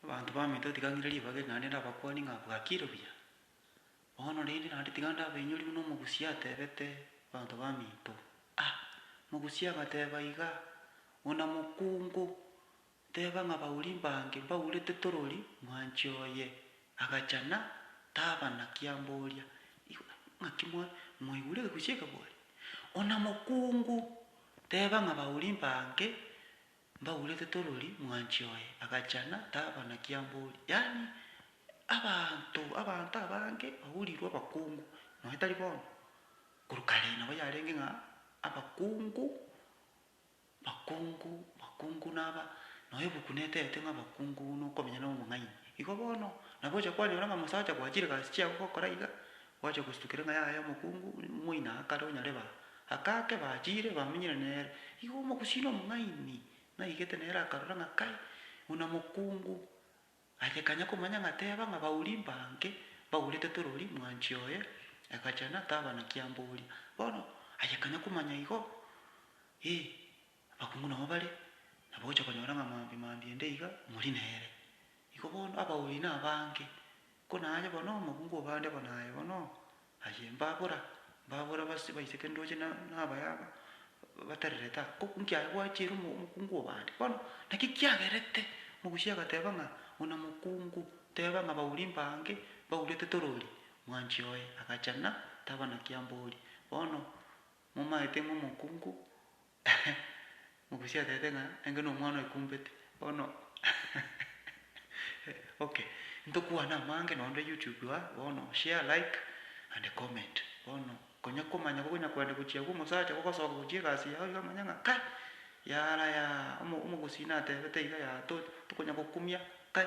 Abanto baminto tigang'ire ribaga eri naende ndabakwanie ng'a bwakire buya. Bono rende naende tiga ndabainyorie buna omogusia atebete abanto baminto, Ah! Mogusia agateba iga, Buna mokungu, nteba ng'a bauri mbange mbaurete torori, mwanchi oye agachana, taba na kiamboria. Igo ng'aki mwa mwaigure egegusia ekebwate? Ona mokungu, teba ng'a bauri mbange Mbaurete torori mwanchi oye agacha na taba na kiambori yaani abanto abanto abange baurirwe abakungu nonya tari bono korwa kare nabo yarenge ng'a abakungu bakungu bakungu naba nonya ebuku netete ng'a abakungu nokomenya nomong'aini igo bono nabo ocha kwanyora ng'a omosacha gwachire gasi chiago gokora iga Gwachia gostuka ereng'a yaye omokungu, moina akare onyareba, akake bachire bamenyire nere. Igo omogusii nomong'aini naigete nere akarora ng'a kai buna mokungu aye kanya komanya ng'a teba ng'a bauri mbange bagurete torori mwanchi oye egachena taba na kiamboria. Bono aye kanya komanya igo, ee Abakungu nao bare, na bogocha konyora ng'a mambia mambia ende iga mori nere. Igo bono abauri na abange, ko naye bono omokungu obo ande bo naye bono, aye mbabora, mbabora base baiseke ndooche na nabaya aba batererete aa, Oku nki aye gwachiire omo omokungu obo ande? Bono naki kiagerete mogusie agateba ng'a buna mokungu, teba ng'a bauri mbange baurete torori, mwanchi oye agachana taba na kiambori. Bono. Momaete ng'a omokungu mogusia atebete ng'a enge nomwana oikumbete bono okay ntokwane amange nonde YouTube aa bono share like and comment bono konya komanya kokonya kwenda gochia agwo omosacha gogosoka gochia egasi yao iga omanye ng'a kai yara yaa omo omogusii natebete iga yaa to tokonya gokumia kai.